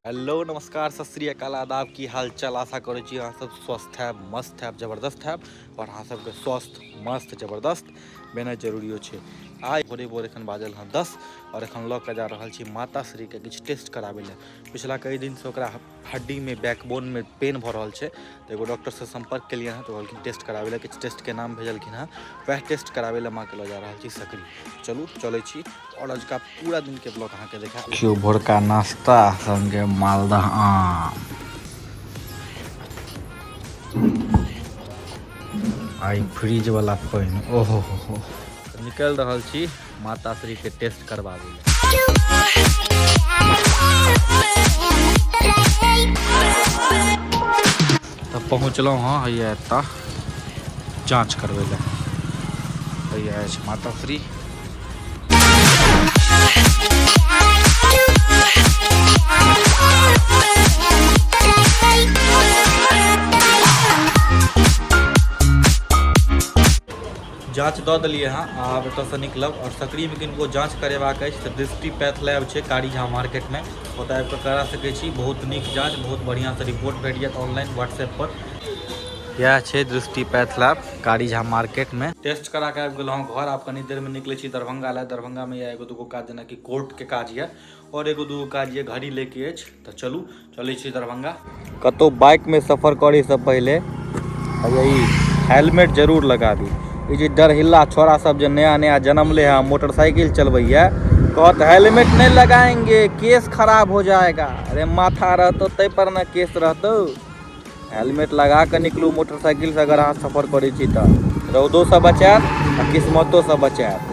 hello नमस्कार सत श्री अकाल आदाब की हाल चाल आशा करै छी अहाँ सब स्वस्थ हैब मस्त हैब जबरदस्त हैब और अहाँ सबके स्वस्थ मस्त जबरदस्त बेना जरूरियो छै आइ भोरे भोर एखन बाजल हँ दस और एखन लऽ कऽ जा रहल छी माता श्रीके किछु टेस्ट कराबै लए पिछला कई दिनसँ ओकरा हड्डी में बैकबोन में पेन भऽ रहल छै तऽ एगो डॉक्टरसँ सम्पर्क केलियै हँ तऽ कहलखिन टेस्ट कराबै लए किछु टेस्टके नाम भेजलखिन हँ वएह टेस्ट कराबै लए माँके लऽ जा रहल छी सकरी चलू चलै छी आओर अजुका पूरा दिनके ब्लॉग अहाँके देखा देखियौ भोरका नाश्ता सङ्गे मालदह आम आइ फ्रिजवला पानि ओहो हो हो निकलि रहल छी माता श्री के टेस्ट करवावे ले तब पहुँचलहुँ हँ हैया एतऽ जाँच करबै लए हैया अछि माता श्री जाँच दऽ देलियै हँ आ आब एतऽसँ निकलब आओर सकरीमे किनको जाँच करेबाक अछि तऽ दृष्टि पैथ लैब छै कारी झा मार्केटमे ओतऽ आबि कऽ करा सकै छी बहुत नीक जाँच बहुत बढ़िआँसँ रिपोर्ट भेट जायत ऑनलाइन व्हाट्सएपपर इएह छै दृष्टि पैथ लैब कारी झा मार्केटमे टेस्ट करा कऽ आबि गेलहुँ घर आब कनी देरमे निकलै छी दरभंगा लए दरभंगामे यऽ एगो दूगो काज जेनाकि कोर्टके काज यऽ और एगो दूगो काज ये घड़ी लेके अछि तो चलू चले छी दरभंगा कतो बाइक में सफर करे से पहले यही हेलमेट जरूर लगा दी ये जे डरहिल्ला छोरा सब जो नया नया जन्म ले है मोटरसाइकिल चलबैया कहत हेलमेट नहीं लगाएंगे केस खराब हो जाएगा अरे माथा रहतो ते पर ना केस रहतो हेलमेट लगा के निकलू मोटरसाइकिल से अगर अहाँ सफर करे छी तो रौदो से बचात आ किस्मतो से बचात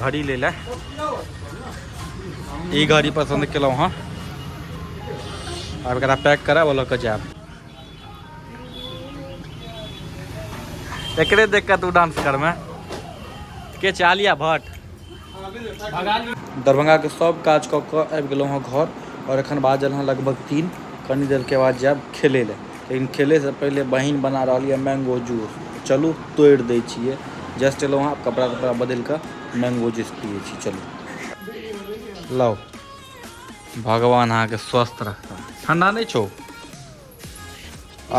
घड़ी ले ले ई घड़ी पसन्द केलहुँ हँ आब एकरा पैक कराब लऽ कऽ जायब एकरे देख कऽ तू डांस करमे के छै आलिया भट्ट दरभंगाके सब काज कऽ कऽ आबि गेलहुँ हँ घर आओर एखन बाजल हँ लगभग तीन कनी देरके बाद जायब खेलै लए लेकिन खेलैसँ पहिले बहिन बना रहल यऽ मैंगो जूस चलू तोड़ि दै छियै जस्ट एलहुँ हँ कपड़ा तपड़ा बदलि कऽ मैंगो जूस पियै छी चलू लाउ भगवान अहाँके स्वस्थ रखता ठंडा नहि छौ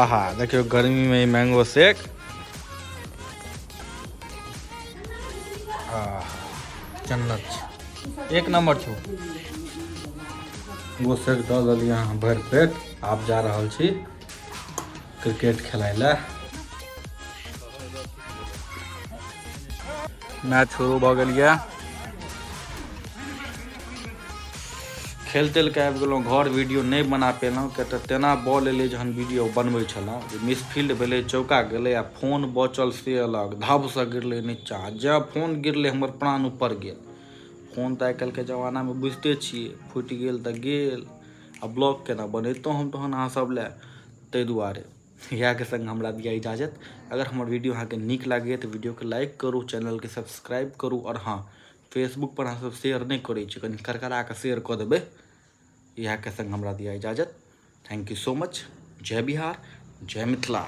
आहा देखियौ गर्मीमे ई मैंगो शेक जन्नत एक नंबर छौ मैंगो शेक दऽ देलियै अहाँ भरि पेट आप जा रहल छी क्रिकेट खेलाय लए मैच शुरू भऽ गेल यऽ खेल तेल के आबि गेलहुँ घर वीडियो नहि बना पेलहुँ किया तऽ तेना बॉल एलै जहन वीडियो बनबै छलहुँ जे मिसफील्ड भेलै चौका गेलै आ फोन बचल से अलग धबसँ गिरलै नीचा जँ फोन गिरलै हमर प्राण ऊपर गेल फोन तऽ आइ काल्हिके जमानामे बुझिते छियै फुटि गेल तऽ गेल आ ब्लॉग केना बनैतहुँ हम तहन अहाँ सब लए ताहि दुआरे इएहके सङ्ग हमरा दिया इजाजत अगर हमर वीडियो अहाँके नीक लागैए तऽ वीडियोके लाइक करू चैनलके सब्सक्राइब करू आओर हँ फेसबुकपर अहाँ सब शेयर नहि करै छी कनि करकरा कऽ शेयर कऽ देबै इएहके सङ्ग हमरा दिया इजाजत थैंक यू सो मच जय बिहार जय मिथिला